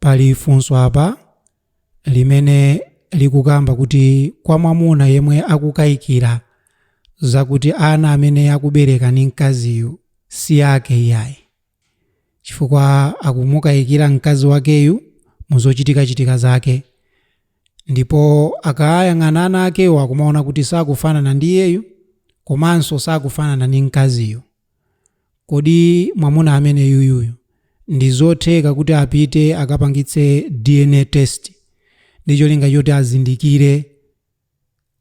Pali funso apa limene likukamba kuti kwa mwamuna yemwe akukaikira zakuti ana amene akubereka ndi mkaziyu si ake iyayi chifukwa akumukaikira mkazi wakeyu mu zochitikachitika zake ndipo akayang'ana ana akewo akumaona kuti sakufanana ndi iyeyu komanso sakufanana ndi mkaziyu. Kodi mwamuna ameneyuyuyu ndizotheka kuti apite akapangitse dna test ndi cholinga choti azindikire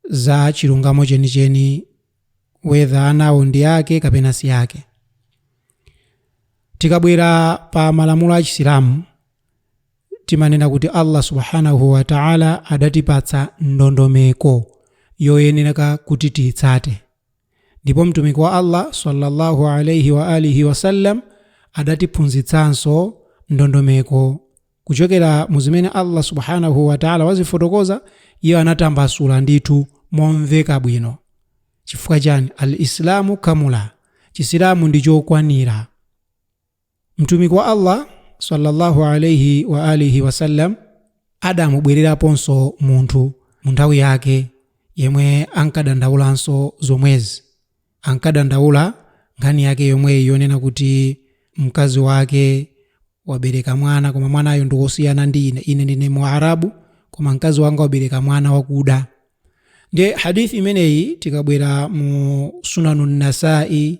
za chilungamo chenicheni whether anawo ndi ake kapena si ake? Tikabwera pa malamulo a Chisilamu timanena kuti Allah Subhaanahu wa Ta'ala adatipatsa ndondomeko yoyenereka kuti tiitsate. Ndipo Mtumiki wa Allah swalla Allahu alaih wa alihi wasallam adatiphunzitsanso ndondomeko kuchokera mu zimene Allah Subhaanahuu Wataalaa wazifotokoza, Iye anatambasula ndithu momveka bwino. Chifukwa chani? Al-Islaamu kamula, Chisilamu ndi chokwanira. Mtumiki wa Allah swalla Allahu alayhi wa alihi wasallam adamubwereraponso munthu mu nthawi yake yemwe ankadandaulanso zomwezi, ankadandaula nkhani yake yomweyi yonena kuti mkazi wake wabereka mwana koma mwanayo ndi wosiyana ndi ine, ine ndine Muarabu koma mkazi wanga wabereka mwana wakuda. Ndiye hadith imeneyi tikabwera mu Sunanu Nasai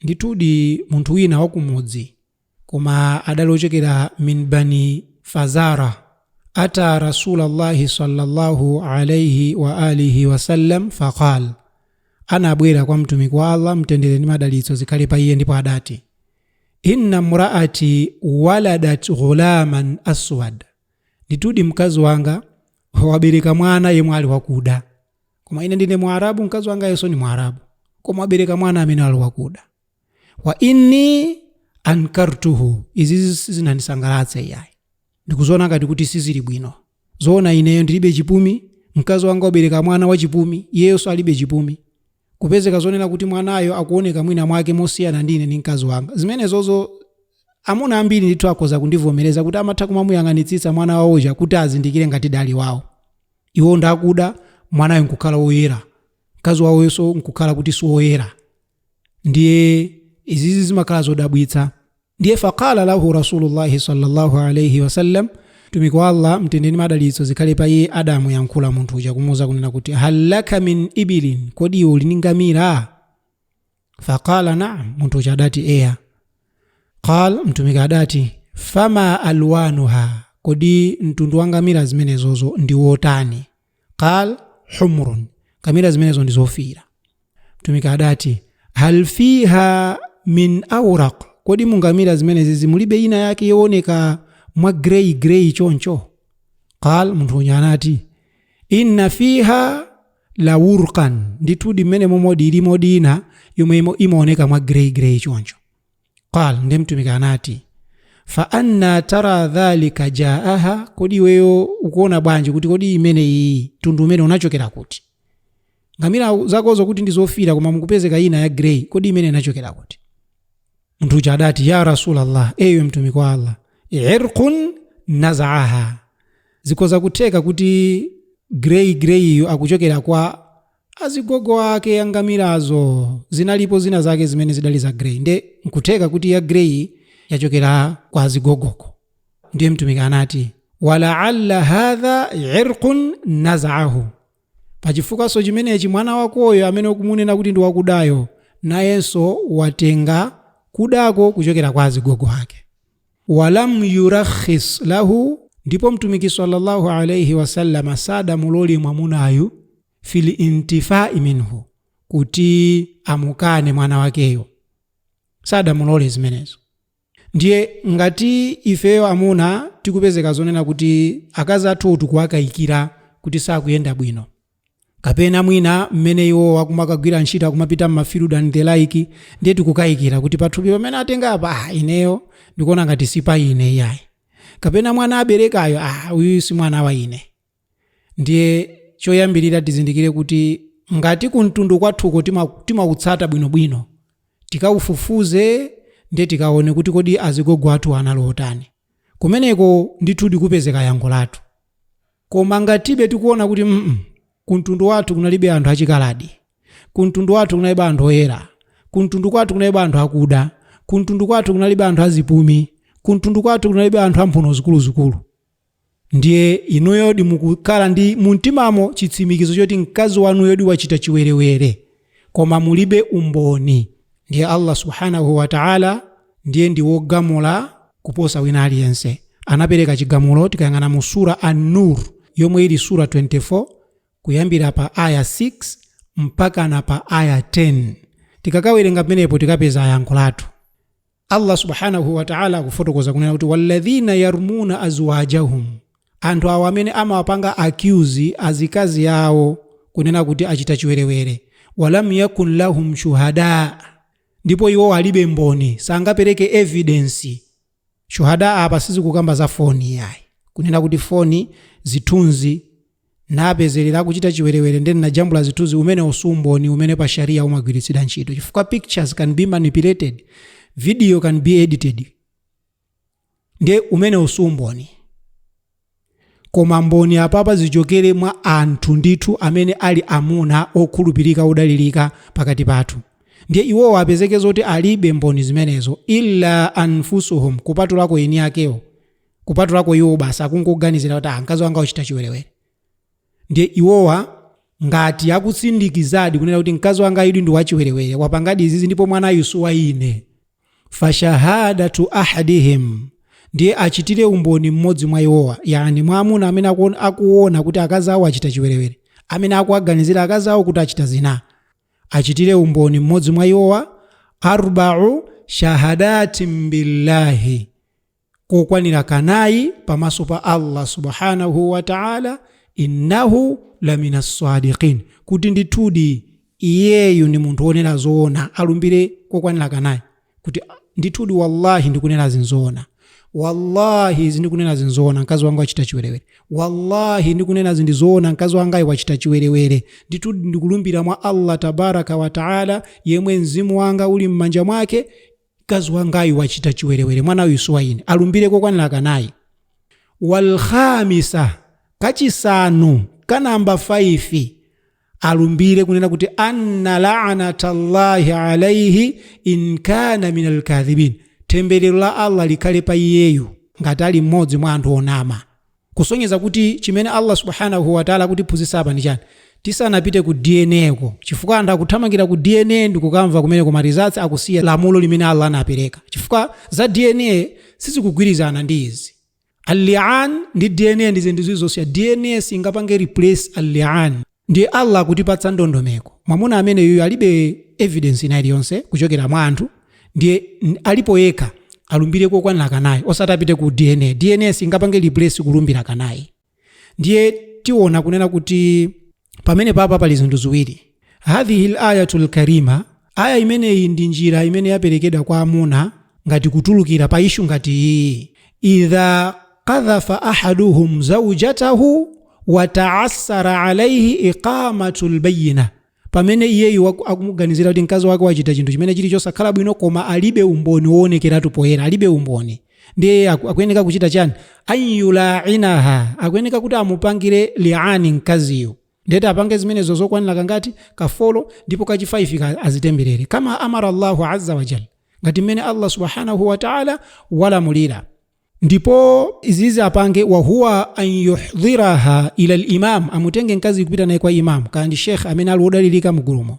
Ndithudi munthu wina wa kumudzi koma adali ochokera min Bani Fazarah ata Rasulallahi sallallahu alaihi wa alihi wa sallam faqal anabwera kwa mtumiki wa Allah mtendere ndi madalitso zikhale pa iye ndipo adati inna mraati waladat ghulaman aswad ndithudi mkazi wanga wabereka mwana yemwe ali wakuda koma ine ndine mwarabu mkazi wangayonso ndi mwarabu koma wabereka mwana amene ali wakuda wa inni ankartuhu izi sizinandisangalatsa iyayi ndikuziona ngati kuti sizili bwino zoona ineyo ndilibe chipumi mkazi wanga wabereka mwana wachipumi iyeyonso alibe chipumi kupezeka zonena kuti mwanayo akuoneka mwina mwake mosiyana ndi ine ndi mkazi wanga zimenezozo amuna ambiri ndithu akhoza kundivomereza kuti amatha kumamuyang'anitsitsa mwana wawoja kuti azindikire ngati alidi wawo Iwo ndi akuda, mwanayo nkukhala woyera, mkazi wawoyonso nkukhala kuti si woyera. Ndiye izizi zimakhala zodabwitsa. Ndiye faqala lahu Rasulullahi sallallahu alaihi wasallam, Mtumiki wa Allah mtendere ndi madalitso zikhale pa iye adamuyankhula munthu uja kumuuza kunena kuti hal laka min ibilin, kodi iwe uli ndi ngamira? qal naam munthu uja adati eya qal mtumiki adati fama alwanuha kodi mtundu wa ngamira zimene zozo ndi wotani qal humrun ngamira zimenezo ndi zofiira mtumiki adati hal fiha min auraq kodi mu ngamira zimenezi mulibe ina yake yooneka mwa grey grey choncho qal munthu uja anati inna fiha la wurqan ndithudi mmenemomodi ilimodi ina yomwe imaoneka mwa grey grey choncho qal nde mtumiki anati fa anna tara dhalika jaaha kodi iweyo ukuona bwanji kuti kodi imeneyi mtundu umene unachokera kuti ngamira zakozo kuti ndi zofiira koma mukupezeka ina ya grey kodi imeneyi inachokera kuti munthu uja adati ya rasulallah eyi mtumiki wa allah irqun nazaaha zikhoza kutheka kuti grey greyiyo ikuchokera kwa azigogo ake angamirazo zinalipo zina zake zimene zidali za grey nde nkutheka kuti ya grey yachokera kwa azigogoko ndiye mtumiki anati walaalla hadha irqun nazaahu Pa chifukwanso chimenechi, mwana wakoyo amene ukumunena kuti ndi wakudayo, nayenso watenga kudako kuchokera kwa azigogo ake. Walam yurakhis lahu, ndipo Mtumiki salla Allah alaih wasallam sadamulole mwamunayu fil intifai minhu, kuti amukane mwana wakeyo, sadamulole zimenezo. Ndiye ngati ifeyo amuna tikupezeka zonena kuti akazi athuwo tikuwakayikira kuti sakuyenda bwino, kapena mwina mmene iwowo akumakagwira ntchito, akumapita mma field and the like, ndiye tikukayikira kuti pathupi pamene atengapa, ah, ineyo ndikuona ngati si pa ine iyayi, kapena mwana aberekayu, ah, uyuyu si mwana wa ine. Ndiye choyambirira tizindikire kuti ngati kumtundu kwathuko sitimakutsata bwinobwino, tikaufufuze ndiye tikaone kuti kodi azigogo athuwa anali otani. Kumeneko ndithu tikapeza yankho lathu. Koma ngatibe tikuona kuti mm kumtundu kwathu kunalibe anthu achikaladi, kumtundu kwathu kunalibe anthu oyera, kumtundu kwathu kunalibe anthu akuda, kumtundu kwathu kunalibe anthu azipumi, kumtundu kwathu kunalibe anthu amphuno zikuluzikulu, Ndiye inuyodi mukukhala ndi mumtimamo chitsimikizo choti mkazi wanuyodi wachita chiwerewere, koma mulibe umboni, ndiye Allah Subhaanah wa Ta'ala ndiye ndi wogamula kuposa wina aliyense. Anapereka chigamulo tikayang'ana mu Surah Al Noor yomwe ili Surah 24 kuyambira pa aayah 6 mpakana pa aayah 10. Tikakawerenga pamenepo tikapeza yankho lathu. allah subhanahu wataala akufotokoza kunena kuti walladhina yarmuna azwajahum anthu awo amene amawapanga accuse azikazi awo kunena kuti achita chiwerewere walam yakun lahum shuhada ndipo iwo alibe mboni sangapereke evidence shuhada apa sizikukamba za foni iyayi kunena kuti foni zithunzi ndinapezerera akuchita chiwerewere nde ndinajambula zithunzi umenewo si umboni umene pa sharia umagwiritsidwa ntchito chifukwa pictures can be manipulated video can be edited nde umenewo si umboni koma mboni apapa zichokere mwa anthu ndithu amene ali amuna okhulupirika odalirika pakati pathu ndiye iwowo apezeke zoti alibe mboni zimenezo illa anfusuhum kupatulako eni akewo kupatulako iwo basi akungoganizira kuti ah, mkazi wanga wachita chiwerewere ndiye iwowa ngati akutsindikizadi kunena kuti mkazi wanga ayidi ndi wachiwerewere wapangadi izizi ndipo mwana uyu si wa ine fashahadatu ahadihim ndiye achitire umboni mmodzi mwa iwowa yani mwa amuna amene akuona kuti akazi awo achita chiwerewere amene akuwaganizira akazi awo kuti achita zina achitire umboni mmodzi mwa iwowa arbau shahadatin billahi kokwanira kanayi pamaso pa allah subhanahu wataala innahu lamina sadiqin kuti ndithudi iyeyu ndi munthu wonena zoona alumbire kokwanira kanayi kuti ndithudi wallahi ndikunena ndi zoona wallahi zindikunena ndi zoona mkazi wanga wachita chiwerewere wallahi ndikunena ndi zoona mkazi wangayu wachita chiwerewere ndithu ndikulumbira mwa allah tabaraka wataala yemwe mzimu wanga uli m'manja mwake mkazi wangayu wachita chiwerewere mwana uyu si wa ine alumbire kokwanira kanayi walkhamisa kachisanu kanamba 5 alumbire kunena kuti anna lanata llahi alaihi in kana min alkadhibin temberero la allah likhale pa iyeyu ngati ali mmodzi mwa anthu onama kusonyeza kuti chimene Allah subhanahu wa ta'ala akutiphunzitsa apa ndi chani tisanapite ku DNA ko chifukwa anthu akuthamangira ku DNA ndi kukamva kumene koma results akusiya lamulo limene Allah anapereka chifukwa za DNA sizikugwirizana ndi izi al-li'an ndi DNA ndi zinthu zosiyana DNA singapange replace al-li'an Ndiye Allah akutipatsa ndondomeko, mwamuna ameneyuyu alibe evidence ina iliyonse kuchokera mwa anthu, ndiye alipo yekha, alumbire kokwanira kanayi, osati apite ku DNA, DNA singapange replace kulumbira kanayi. Ndiye tiona kunena kuti pamenepapa pali zinthu ziwiri, Hadhihil ayatul karima, Ayah imeneyi ndi njira imene yaperekedwa kwa amuna ngati kutulukira pa issue ngati iyi, Idha qadhafa ahaduhum zawjatahu wa ta'assara alayhi iqamatul bayyinah, Pamene iyeyu waku, akumuganizira kuti mkazi wake wachita chinthu chimene chili chosakhala bwino koma alibe umboni woonekeratu poyera, alibe umboni. Ndiye iye aku, akuyeneka kuchita chani? An yula'inaha, akuyeneka kuti amupangire li'ani mkaziyu. Ndiye apange zimenezo zokwanila kangati? Ka folo ndipo kachifaifika azitemberere. Kama amara Allahu azza wa jalla. Ngati mmene Allah subhanahu wa ta'ala walamulira. Ndipo izizi apange wa huwa an yuhdhiraha ila al-imam. Amutenge mkazi kupita naye kwa imam. Kaya ndi sheikh amene ali wodalilika mugulumo.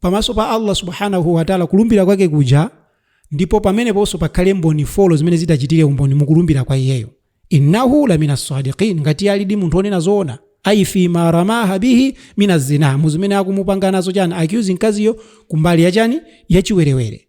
pamaso pa Allah subhanahu wa ta'ala kulumbira kwake kuja ndipo pameneponso pakhale mboni folo zimene zidzachitire umboni mukulumbira kwa iyeyo innahu lamina sadiqin ngati alidi munthu onena zoona ayi fi ma ramaha bihi mina zina mu zimene akumupanga nazo chani accuse mkaziyo kumbali ya chani yachiwerewere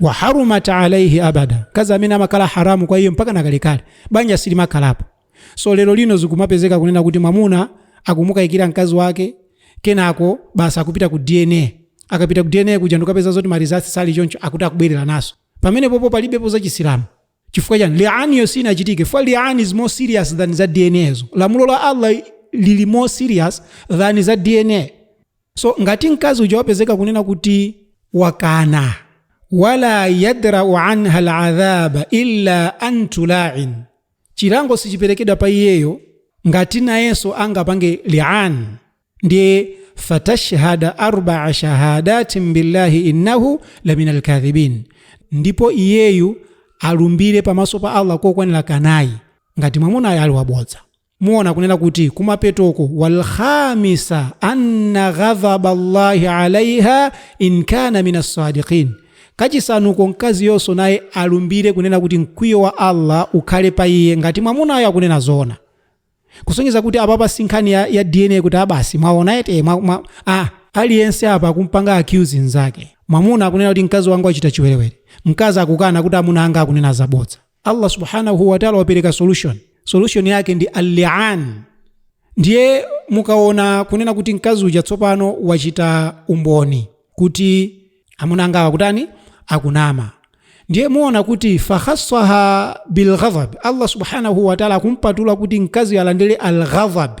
wa harumat alaihi abada mkazi ameneyo amakhala haramu kwa iye mpaka nakalekale banja silimakhalapo so lero lino zikumapezeka kunena kuti mwamuna akumukayikira mkazi wake kenako basi akupita ku dna akapita ku dna kuja n'kukapeza zoti marizasi sali choncho akuti akubwereranso pamenepopo palibepo za chisilamu chifukwa chani lianiyo sinachitike pomwe liani is more serious than za dnazo lamulo la allah lili more serious than za dna so ngati mkazi uja wapezeka kunena kuti wakana wala yadrau anha aladhaba illa an tulain chilango sichiperekedwa pa iyeyo ngati nayenso angapange lian ndiye fatashhada arbaa shahadatin billahi innahu lamina alkadhibin ndipo iyeyu alumbire pamaso pa allah kokwanira kanayi ngati mwamunayo ali wabodza Muona akunena kuti kumapetoko walkhamisa anna ghadhaba Allahi alaiha in kana min assadiqin. Kachisanuko mkaziyonso naye alumbire kunena kuti mkwiyo wa Allah ukhale pa iye ngati mwamunayo akunena zoona. Kusonyeza kuti apapa si nkhani ya, ya DNA kuti a basi mwaona eti eh, mwa, mwa, ah, aliyense apa akumupanga accuse nzake. Mwamuna akunena kuti mkazi wanga wachita chiwerewere. Mkazi akukana kuti amuna anga akunena zabodza. Allah subhanahu wa ta'ala wapereka solution solution yake ndi al-li'an ndiye mukaona kunena kuti mkazi uja tsopano wachita umboni kuti amuna angawa akutani akunama ndiye muona kuti fakhassaha bilghadhab allah subhanahu wataala akumpatula kuti mkazi uja alandire alghadhab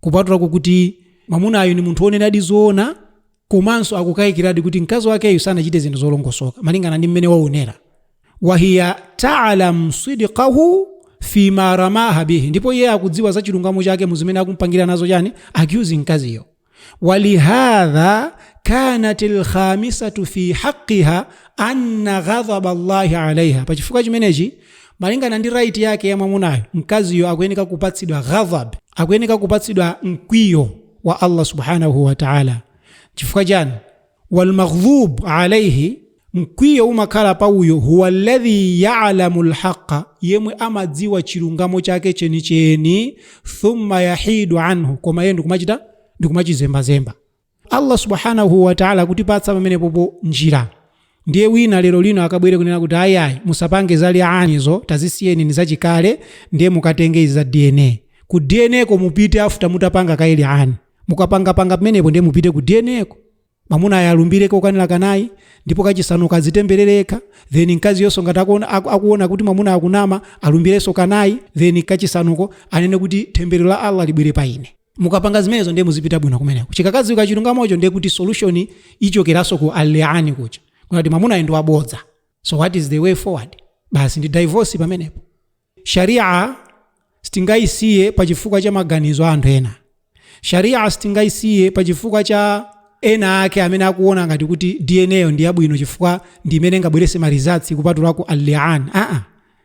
kupatulako kuti mamunayo ni munthu wonenadi zoona komanso akukayikiradi kuti mkazi wakeyo sanachite zinthu zolongosoka malingana ndi mmene waonera wahiya talam sidqahu fima ramaha bihi ndipo iye akudziwa za chilungamo chake mu zimene akumpangira nazo chani accuse mkaziyo walihadha kanat lkhamisatu fi haqiha anna ghadhaba llahi alaiha pachifukwa chimenechi Malingana ndi right yake ya mwamunayo, mkaziyo akuyeneka kupatsidwa ghadhab, akuyeneka kupatsidwa mkwiyo wa Allah subhanahu wa ta'ala. Chifukwa chani? Wal maghdhub alayhi, mkwiyo umakhala pa uyo huwa alladhi ya'lamu alhaqa, yemwe amadziwa chilungamo chake chenicheni, thumma yahidu anhu, koma iye ndikumachita ndikumachizembazemba. Allah subhanahu wa ta'ala akutipatsa pamenepopo njira ndiye wina lero lino akabwere kunena kuti ayi ayi musapange za lianizo tazisiyeni ni zachikale ndiye mukatenge izi za dna ku dna ko mupite after mutapanga kaye liani mukapangapanga pamenepo ndiye mupite ku dna ko mamuna ayalumbire kokwanira kanayi ndipo kachisanu adzitemberere then mkaziyonso ngati akuona, aku- akuona kuti mamuna akunama alumbirenso kanayi then kachisanuko anene kuti thembero la allah libwere pa ine mukapanga zimenezo ndiye muzipita bwino kumeneko chikakadziwika chilungamocho ndiye kuti solution ichokeranso ku liani kuja kunali kuti mamunayo ndi wabodza so what is the way forward basi ndi divorce pamenepo sharia sitingayisiye pa chifukwa cha maganizo a anthu ena sharia sitingayisiye pa chifukwa cha ena ake amene akuona ngati kuti dna yo ndi yabwino chifukwa ndi imene ingabweretse marizaltsi kupatulako lian aa